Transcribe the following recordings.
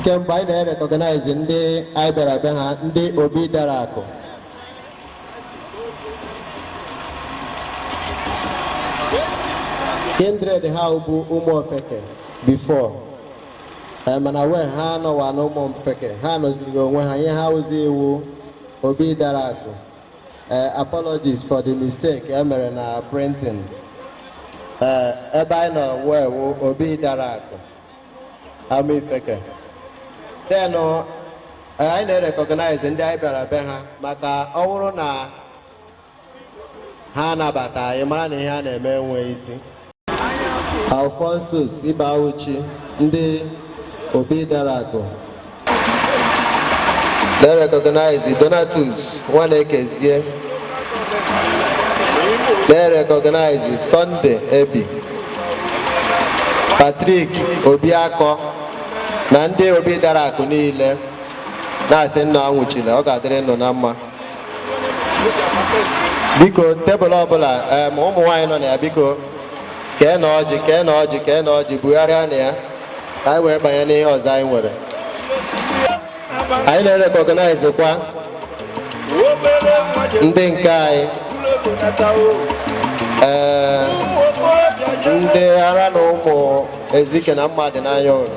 kemgbe anyị na-erecognize ndị anyị bịara be ha ndị obi dara akụ kindred ha bụ ụmụ ofeke before eh, mana wee ha anọwa na ụmụ ofeke ha nọziri onwe ha ihe ha wụzi wụ obi dara akụ eh, apologies for the mistake e mere na printing eh, ebe anyị nọ wee wụ obi dara akụ Amaifeke then eh, anyị na-erecognize ndị anyị bịara be ha maka ọ bụrụ na ha anabata anyị mara na ihe a na-eme enweghị isi Alphonsus Ibeawuchi ndị obi dara akụ Na-erecognize Donatus Nwanekezie. Na-erecognize Sunday Ebi, Patrick Obiakọ na ndị obi dara akụ niile na-asị unu anwụchile ọ ga-adịrị unu na mma. Biko tebụl ọbụla em, ụmụ nwaanyị nọ na ya biko keenụ ọjị keenụ ọjị keenụ ọjị bugharịanụ ya ka anyị wee banye n'ihe ọzọ anyị nwere anyị na-erecognizekwa ndị nke anyị ee ndị ara na ụmụ ezike na mmadụ n'anya ụlọ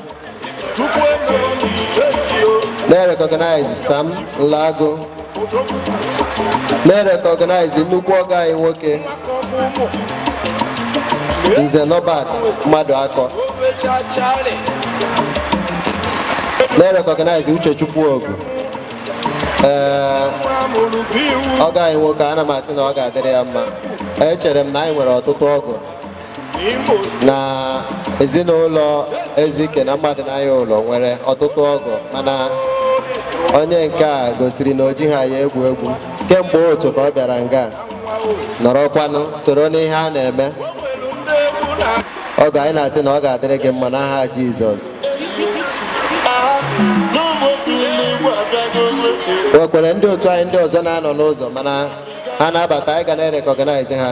Na-erecognize Sam Nlago. Na-erecognize nnukwu ọgọ anyị nwoke Nze Norbert Maduakọ. Na-erecognize Uchechukwu Ogu. Ee, ọgọ anyị nwoke ana m asị na ọ ga-adịrị ya mma. Echere m na anyị nwere ọtụtụ ọgọ na ezinụlọ ezike na mmadụ n'anya ụlọ nwere ọtụtụ ọgọ mana onye nke a gosiri na o jighị ya egwu egwu kemgbe ụtụtụ ka ọ bịara nga nọrọkwanụ soro n'ihe a na-eme ọgọ anyị na-asị na ọ ga-adịrị gị mma n'aha Jizọs o nwekwere ndị otu anyị ndị ọzọ na-anọ n'ụzọ mana ha na-abata anyị ga na-erecognize ha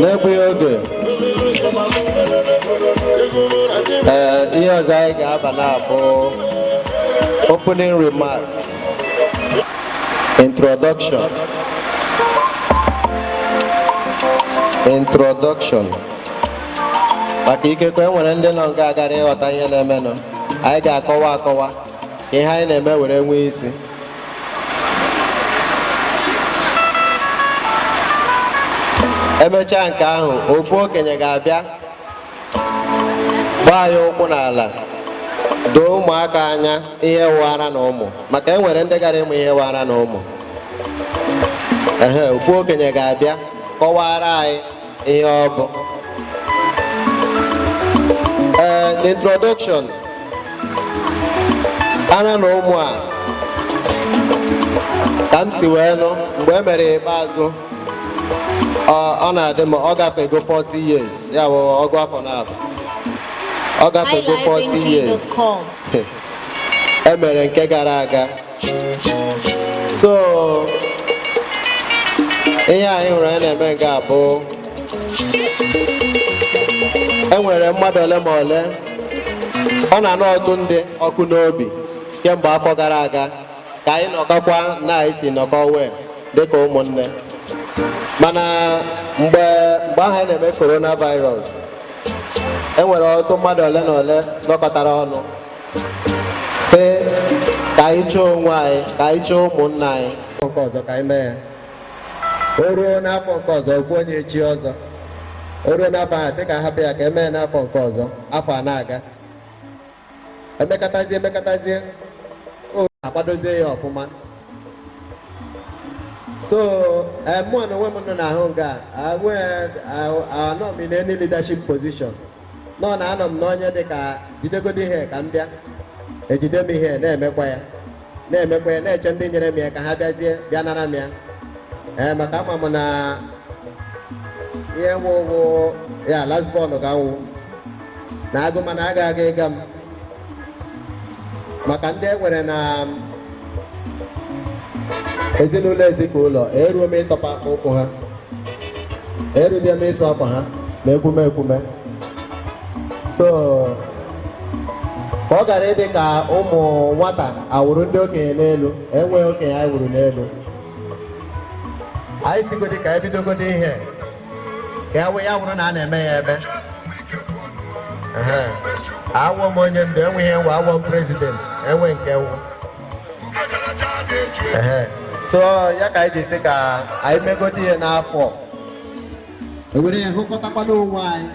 n'egbughị oge ee ihe ọzọ anyị ga-aba na ya bụ opening remarks introduction introduction maka ikekwe e nwere ndị nọ nga agara ịghọta ihe na-emenụ anyị ga-akọwa akọwa ka ihe anyị na-eme were nwee isi emechaa nke ahụ ofu okenye ga-abịa gbaa ya ụkwụ n'ala doo ụmụaka anya ihe wụ ara na ụmụ maka e nwere ndị gara ịmụ ihe wụ ara na ụmụ ofu okenye ga-abịa kọwara anyị ihe ọ bụ ee eh, introduction ara na ụmụ a ka m si wee nụ mgbe e mere ikpeazụ ọ na-adị m ọ gafego 40 years ya bụ ọgụ afọ naabọ ọ gafego 40 years e mere nke gara aga so ihe anyị hụrụ anyị na-eme nke a bụ e nwere mmadụ ole ma ole ọ na-anụ ọtụtụ ndị ọkụ n'obi kemgbe afọ gara aga ka anyị nọkọkwa na anyị si nọkọ wee dịka ụmụnne mana mgbe mgbe ahụ anyị na-eme coronavirus e nwere ọtụtụ mmadụ ole na ole nọkọtara ọnụ sị ka anyị chọọ onwe anyị ka anyị chọọ ụmụnna anyị nke ọzọ ka anyị mee ya o ruo n'afọ nke ọzọ okwu onye echi ọzọ o ruo n'afọ ahụ sị ka a hapụ ya ka e mee n'afọ nke ọzọ afọ a na-aga emekatazie emekatazie o akwadozie ya ọfụma so eh, mụ na onwe m unu na-ahụ nga anọ m in any leadership position nọ na anọ m n'onye dị ka jidegodi ihe ka m bịa ejide m ihe na-emekwa ya na-emekwa ya na-eche ndị nyere m ya ka ha bịazie bịa nara m ya ee maka ama m na ihe wụ okwu ya last born ka m wụ na agụ mana agaghị ịga m maka ndị e nwere na ezinụlọ Ezike ụlọ eruo m ịtọpụ ụkwụ ha erudie m ịsụ akwa ha na ekwume ekwume so ka ọ ghara ịdị ka ụmụ nwata awụrụ ndị okenye n'elu enweghị okenye anyị wụrụ n'elu anyị sịgodi ka e bidogodi ihe ya wụ ya wụrụ na a na-eme ya ebe awụ m onye ndu enwe ihe m wụ awụ m president enwe nke m wụ so ya ka anyị ji sị ka anyị megodi ihe n'afọ a were ya hụkọtakwanụ onwe anyị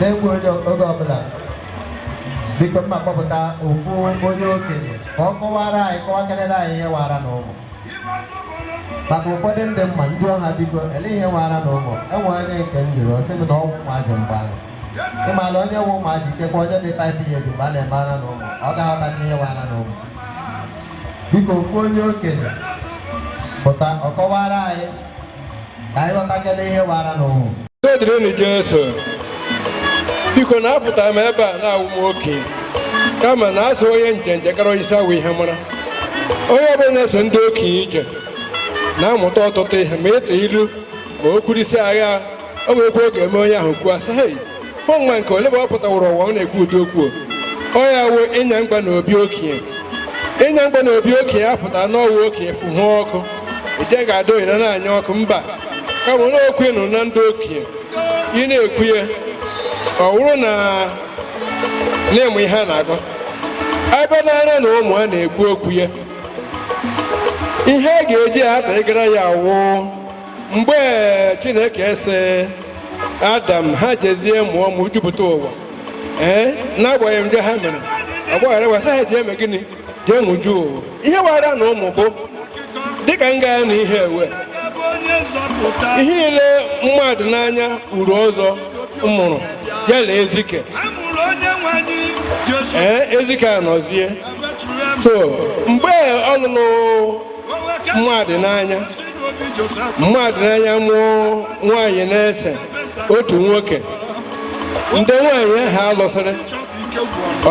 na-egbu onye oge ọbụla biko mma kpọpụta ofu onye okenye ka ọ kọwara anyị kọwakarịrị anyị ihe wụ ara na ụmụ maka ụfọdụ ndị mma ndị ọha biko elee ihe wụ ara na ụmụ e nwe onye nke m jụrụ ọ sị m na ọ wụ ụmụazị mgbe ahụ ị mala onye wụ ụmụazị ikekwa onye dị five years mgbe a na-eme ara na ụmụ ọ ga-aghọtacha ihe wụ ara na ụmụ biko ofu onye okenye pụta ọ kọwara anyị dịrịnụ Jesu biko na apụta m ebe a na-awụ m oke kama na a sị onye njenje kara onye isi awọ ihe mara onye ọbụla na-eso ndị okenye ije na-amụta ọtụtụ ihe ma ịtụ ilu ma o kwurisi agha o nwekwa oge eme onye ahụ kwuo a sị nwa nke ole bụ ọ pụtawụrụ ụwa ọ na-ekwu ụdị okwu ọ ya wụ ịnya mgba na obi okenye ịnya mgba na obi okenye apụta na ọ wụ okenye fụhụ ọkụ ije ga-ada ohere na-anya ọkụ mba kama na okwu nụ na ndị okenye ị na-ekwu ya ọ wụrụ na na-eme ihe a na-agọ ebe na ara na ụmụ a na-ekwu okwu ya ihe a ga-eji ata ịgara ya wụ mgbe chineke sị adam ha jezie mụọ mụjupụta ụwa ee n'agbanyeghị njọ ha mere ọ gbaghara ha sị ha jee mee gịnị jee mụju ụwa ihe wụ ara na ụmụ bụ dịka nga anyị ewe ihe niile mmadịnanya uru ọzọ mụrụ ya na ezike ee ezike anọzie so mgbe ọ lụrụ mmadịnanya mmadịnanya mụọ nwaanyị n'ise otu nwoke ndị nwaanyị ahụ alụsịrị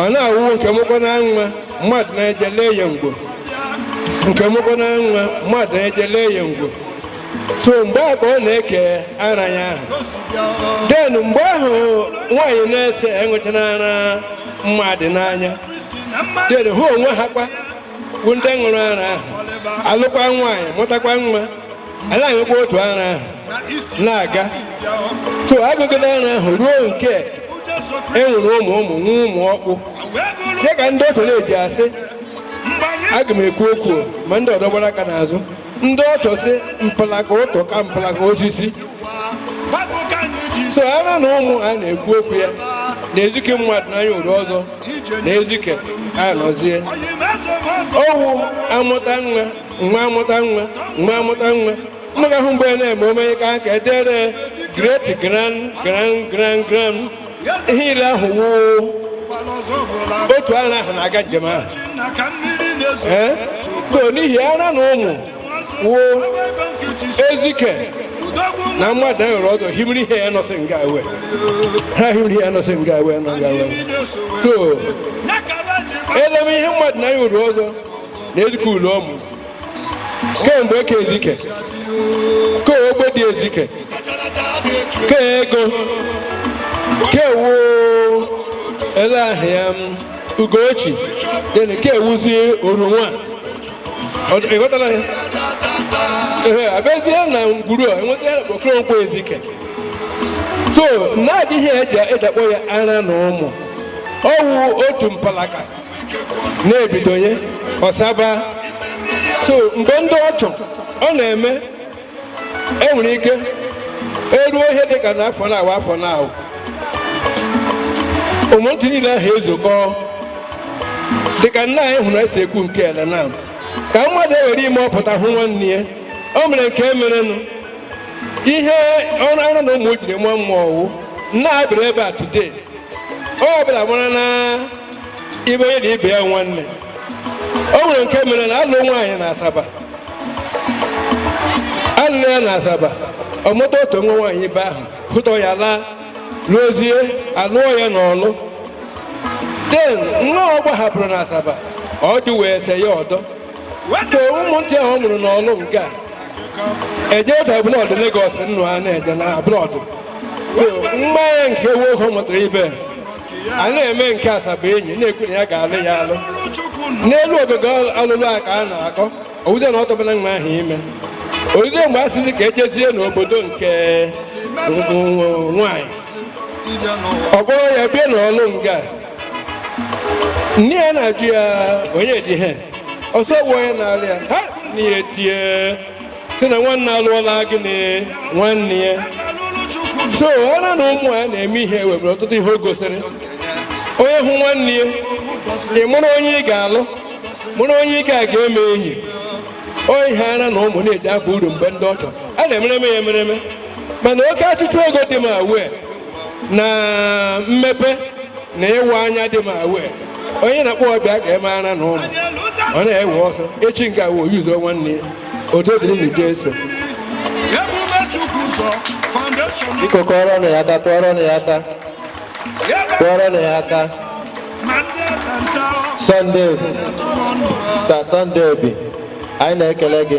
ọ na-awụ nke mụkwana nwa mmadụ na-eje lee ya ọmụgwọ nke mụkwana nwa mmadụ na-eje lee ya ọmụgwọ so mgbe a ka ọ na-eke ara ya ahụ then mgbe ahụ nwaanyị n'ise aṅụchara ara mmadịnanya then ha onwe ha kwa wụ ndị ṅụrụ ara ahụ alụkwa nwaanyị mụtakwa nwa a na-aṅụkwa otu ara ahụ na-aga so aṅụgide ara ahụ ruo nke e nwere ụmụ ụmụ nwa ụmụ ọkpụ dịka ndị otu na-eji asị aga m ekwu okwu ma ndị ọdọ gbara aka n'azụ ndị ọchọ si mpalaka ụtọ ka mpalaka osisi so ara na ụmụ a na-ekwu okwu ya na ezike mmadịnanya uru ọzọ na ezike anọzie ọ wụ amụta nwa nwa amụta nwa nwa amụta nwa nga ahụ mgbe na-eme omenye ka aka edere great grand grand grand grand ihe niile ahụ wụ otu ara ahụ na-aga njem ahụ so n'ihi ara na ụmụ wụ ezike na mmadụnanyị uru ọzọ himiri ihe ya nọsị nga ewe ha himiri ihe ya nọsị nga ewe nọ nga ewe so eleme ihe mmadụnanyị uru ọzọ na ezike ụlọ ọmụ kemgbe e ke ezike ke ogbedi ezike ke ego ke wụ ele ahịa ugochi then ke ewuzie orunwa ịghọtara ya ee abịazie na ngwuru a enweta ya bụ okoronkwo ezike so na-adịghị eji akpọ ya ara na ụmụ ọ wụ otu mpalaka na-ebidonye ọsaba so mgbe ndị ọchọ ọ na-eme e nwere ike eruo ihe dị ka n'afọ na-awụ afọ na-awụ ụmụntị niile ahụ ezukọ dịka nna anyị hụrụ esi ekwu nke ele na ka mmadụ ewere ime ọ pụta hụ nwanne ya o mere nke merenụ ihe ọrụ ara na ụmụ jiri mụọ mmụọ ọ wụ na a bịara ebe a today onye ọbụla mara na ibe onye na ibe ya nwanne o nwere nke mere na a lụ nwaanyị na asaba a lụrụ ya na asaba ọ mụta otu nwa nwaanyị ibe ahụ pụta ya laa luozie a lụọ ya n'ọlụ then nwa ọ gbahapụrụ na asaba ọ dị wee se ya ọdọ ka ụmụntị ahụ ọ mụrụ n'ọlụ nga ejeta abroad Lagos nnụ a na-eje na abroad nwa ya nke nwoke ọ mụtara ibe a na-eme nke asaba enyi na-ekwu na ya ga-alụ ya alụ n'elu ọ ga-aga alụ alụ a ka a na-akọ ọ wụzi na ọ tụbana nwa ahụ ime ọ wụzi mgbe a sịzi ka ejezie n'obodo nke nwanyị ọ kpọrọ ya bịa n'ọlụ nga nne ya na-ajụ ya onye dị ihe ọ sọgbuo ya n'ala ya ha na ya etie sị na nwanne alụọla gị na nwanne ya so ara na ụmụ a na-eme ihe e nwere ọtụtụ ihe o gosiri onye hụ nwanne ya ị mụrụ onye ị ga-alụ mụrụ onye ị ga-aga eme enyi onye ihe ara na ụmụ na-eji aba uru mgbe ndị ọchọ a na-emereme ya emereme mana oke achịchọ ego dị ma wee na mmepe na ịwa anya dị ma wee onye na-akpọ bịa ga-eme ara na ụmụ ọ na-ewe ọsọ echi nke awụ oyuzo nwanne ya otu dịrị na ije eso biko kụọrọ nụ ya aka kụọrọ nụ ya aka kụọrọ nụ ya aka Sunday Sir Sunday Obi anyị na-ekele gị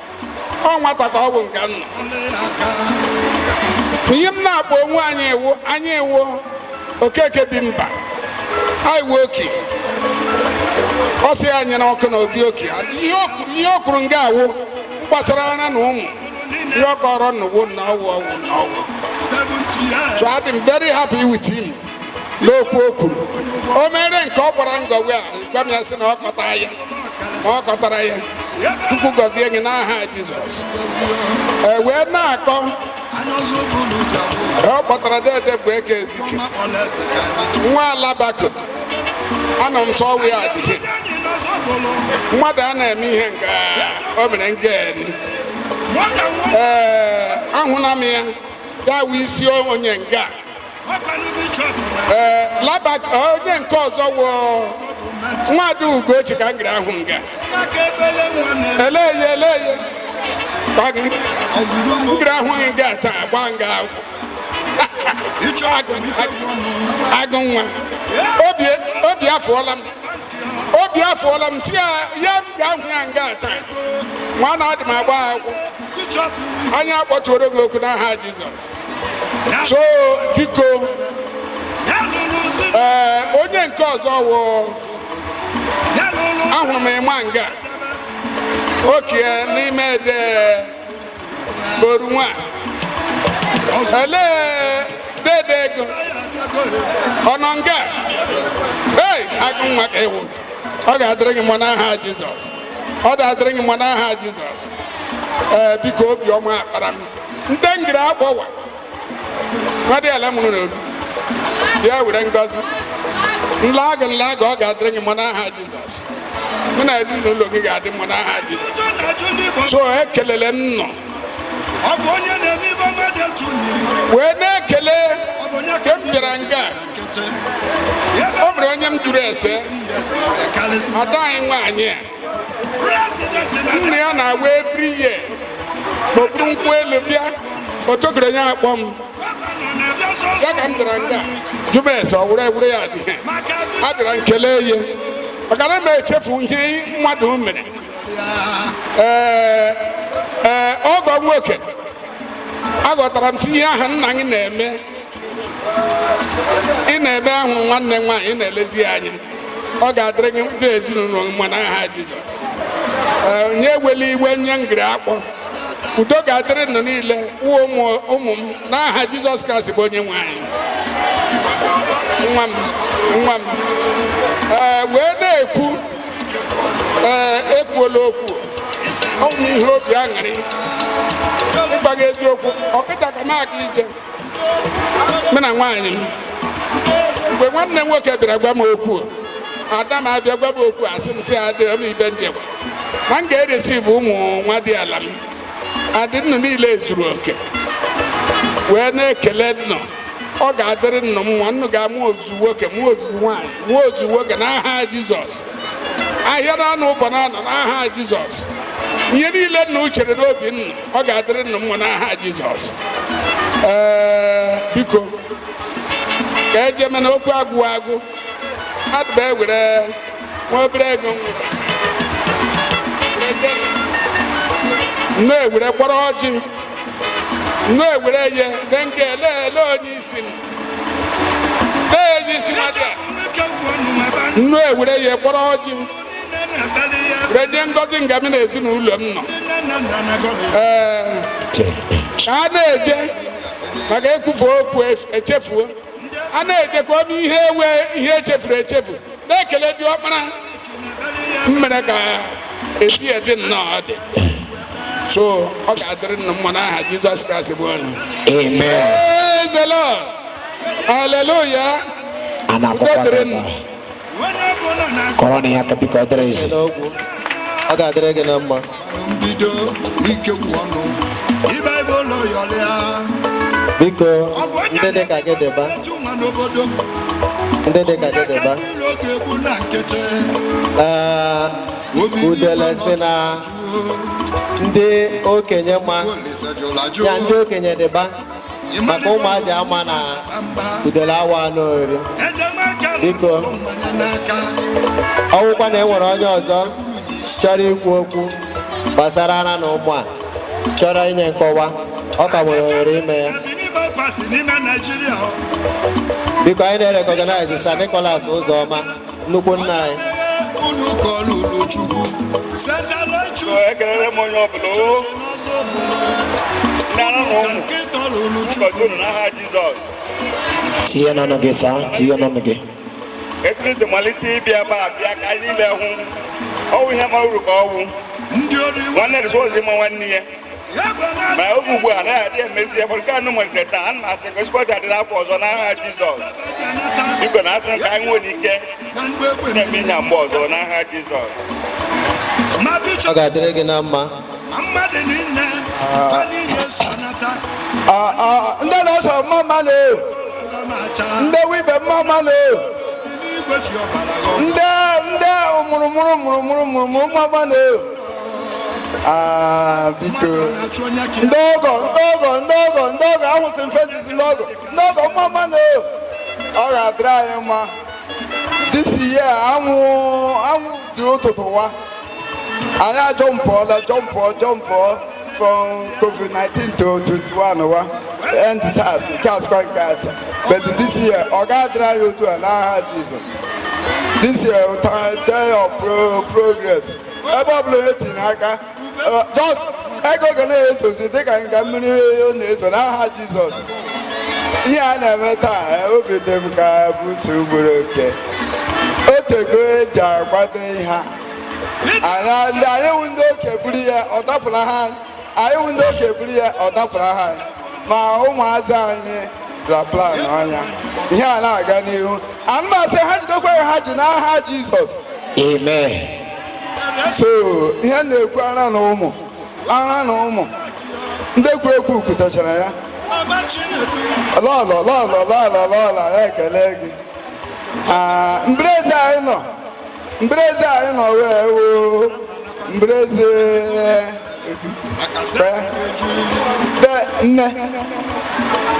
ọ nwata ka ọ bụ nke nna ihe m na-akpọ onwe anyị wụ anyị wụ okeke bi mba anyị wụ oki ọ sị ya nyere ọkụ na obi oki ihe o kwuru- ihe o kwuru nga a wụ gbasara ala na ụmụ ihe ọ kọrọ na ugbo na ọ wụ ọ wụ na ọ wụ so adị m very happy with him n'okwu o kwuru o mere nke ọ gbara ngọwe a gwa m ya sị na ọ kọta ya ma ọ kọtara ya chukwu gọzie gị n'aha jizọs e wee na-akọ ọ kpọtara dede bụ eke ezike nwa alabako anọ m sọ ọ wụ ya adịghị mmadụ a na-eme ihe nke o mere nga eni ee ahụla m ya ya wụ isi onye nga labako onye nke ọzọ wụ nwada ugochi ka m gara ahụ nga eleye eleye ngiri ahụghị nga taa gba nga agụ nwa obi afụọla m obi afụọla m si ya ya m ga-ahụ ya nga taa nwa na adị m agba akwụkwọ anya akpọtuoro gị okwu n'aha Jizọs so biko ee onye nke ọzọ wụ ahụrụ m ịma nga oki n'ime ede boru nwa elee dede ego ọ nọ nga ei agụ nwa ka ị wụ ọ ga-adịrị gị mma n'aha Jizọs ọ ga-adịrị gị mma n'aha Jizọs ee biko obiọma ọkpara m ndị ngiri akpọwa nwadịala m nọ n'obi bịa were ngọzi nla agụ nla agụ ọ ga-adịrị gị mma n'aha jizọs mụ na ezinụlọ gị ga-adị mma n'aha jizọs so ekelele m nọ wee na-ekele ka m bịara nga a o nwere onye m jụrụ ese ada anyị nwaanyị a nne ya na-agwa every year n'okpuru nkwụ elu bịa otokere ya akpọ m ya ka m bịara nga jụba ese ọ wụrụ ewure ya dị a bịara nkele ya maka na m echefu ihe mmadụ mere ee ee ọgọ nwoke aghọtara m si ihe ahụ nna gị na-eme ị na-eme ahụ nwanne nwaanyị ị na-elezi ya anya ọ ga-adịrị gị ndị ezinụlọ gị mma n'aha Jizọs Ee, onye ewela iwe nye ngiri akpọ udo ga-adịrị nnụ niile wụ ụmụ ụmụ m n'aha Jizọs Kraịst bụ onye nwe anyị nwa m nwa m ee wee na-ekwu ee ekwuola okwu ọ bụ ihe obi aṅụrị ịgwa gị eziokwu ọ kịta ka m aga ije mụ na nwaanyị m mgbe nwanne m nwoke bịara gwa m okwu ada m abịa gwa m okwu asị m sị adị m ibe ndị gwa na m ga-eresivu ụmụ nwadiala m adị nnụ niile zuru oke wee na-ekele nnụ ọ ga-adịrị nnụ mma nnụ ga-amụ ozu nwoke mụọ ozu nwaanyị mụọ ozu nwoke n'aha jizọs ahịa na anọ ụbọ na anọ n'aha jizọs ihe niile nnụ chere n'obi nnụ ọ ga-adịrị nna mma n'aha Jizọs ee biko ka eje mana okwu agwụ agwụ adịba ewere nwa obere ego nnụ ewere kpọrọ ọjị nnụ ewere ye de nke ele ele onye isi m na-eji isi mmadụ a nnụ ewere ya kpọrọ ọjị m redị ngozi nga m na ezinụlọ m nọ a na-eje maka ekwufu okwu echefuo a na-ejekwa ebe ihe enwe ihe echefuru echefu na-ekele di ọkpara m mere ka esi dị nnọọ dị so ọ ga-adịrị nna mma n'aha Jizọs Kraịst bụ onye Amen. Praise the Lord. Hallelujah. Ana Udo dịrị akpọkwa nnụ. kọrọ na ya ka biko ọ dịrị ezi ọ ga-adịrị gị na mma mbido ike kwụ ọnụ ibe ebe ụlọ yọrịa biko ndị dị ka gị dịba n'obodo ndị dị ka gị dịba ee udele sị na ndị okenye ma ya ndị okenye dịba maka ụmụazị ama na udele awa anụ ori biko ọwụkwa na enwere onye ọzọ chọrọ ikwu okwu gbasara ara na ụmụ a chọrọ inye nkọwa ọ ka nwere ohere ime ya biko anyị na-recognize Sir Nicholas Ụzọma nnukwu nna anyị unu ka ọ lụrụ chukwu setara chukwu ekelere m onye ọbụla o n'ọzọ bụrụ ndị ara na ka ụmụ nkịta ọ lụrụ ụbọchị chukwu unu n'aha jizọs tinye n'ọnụ gị saa tinye n'ọnụ gị ekriti malite ịbịa ebe a bịa ka anyị niile hụ ọwụ ihe ma uru ka ọwụ ndị ori nwanne rụsị ozi ma nwanne ya ma oge ugbu a anaghị adị emezi ebe nke anụ nwere taa ana m asị ka ezigbo ọja dịrị afọ ọzọ n'aha Jizọs biko na asị ka anyị nwere ike na-eme ịnya mgbe ọzọ n'aha Jizọs ọ ga-adịrị gị na mma ndị na-eso mma mma nụ ndị ibe mma mma nụ ndị ndị mụrụmụrụ mụrụmụrụ mụrụmụrụ mma mma nụ Ah, biko ndị ọgọ ndị ọgọ ndị ọgọ ndị ọgọ ahụsị m faces ndị ọgọ ndị ọgọ mma mma nụ ọ ga-adịrị anyị mma this year anwụ anwụ dị ụtụtụ wa anyị ajọmpụọla jump jump from covid-19 to 21 wa end sars nke asụkọ nke asa but this year ọ ga-adịrị anyị otu a n'aha jizọs this year ụta day of pro progress ebe ọ bụla etinye aka just ego ga na-ezozi dịka nga mmiri oyo na-ezo n'aha jizọs ihe a na-eme taa eh, obi dị m ka bụ si ugboro oke o tego eji akwado ihe a anyị ndị anyị wụ ndị oke buru ya ọ dapụla ha anyị wụ ndị oke buru ya ọ dapụrụ ha anyị ma ụmụazị anyị ra plan anya ihe a na-aga n'ihu ana m asị ha jidekwa ka ha ji n'aha jizọs Amen. so ihe m na-ekwu ara na ụmụ ara na ụmụ ndị kwu ekwu kwutachara ya lọlọ lọlọ lọlọ lọlọ ya ekele gị Ah, mbereze anyị nọ mbereze anyị nọ wee woo mbereze de nne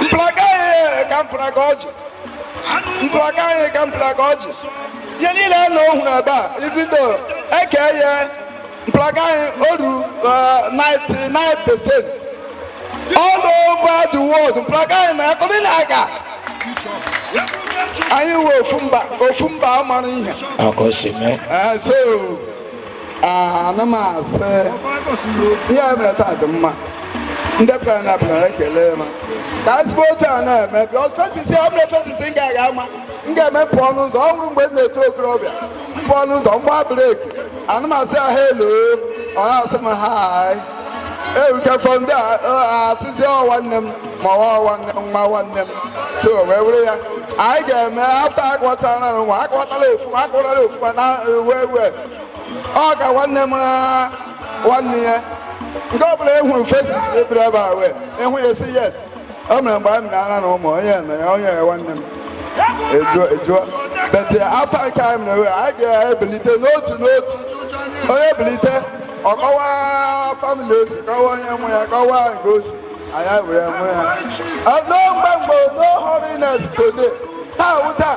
mplaga anyị ka mplaga ọjị mplaga anyị ka mplaga ọjị ihe niile a na ohuru ebe a ibido eke ya Mpụlaga anyị oru 99% all over the world mpụlaga anyị na-akọrị na-aga anyị nwe ofu mba ofu mba mara ihe akọsime Eh, so ah, ana m asị ihe a mere taa dị mma ndị pụtara na pụtara ekele ma ka ezigbo otu a na-eme bịa faces ọ bụla faces m ga-aga ama m ga-eme m pụọ n'ụzọ ọ bụrụ mgbe m na-eto okorobịa m pụọ n'ụzọ m gba breki ana m asị ya hello ọ na-asị m hi erukefọ ndị a asịzi ọ nwanne m ma ọwa nwanne m nwa nwanne m so wee were ya anyị ga-eme after akọtara na nwa akọtara ofuma akọtara ofuma na wee wee ọ ka nwanne m na nwanne ya nke ọ bụla e hụrụ faces ebere ebe a wee ịhụ ya si yes o mere mgbe anyị mere ara na ụmụ onye na ya onye ya nwanne m ejuo ejuo but after nke anyị mere wee anyị ga-ebilite n'otu n'otu onye bilite ọ kọwa family o si kọwa onye mụ ya kọwa nke o si anyị were ma ya no mgbe mgbe no holiness today taa wụ taa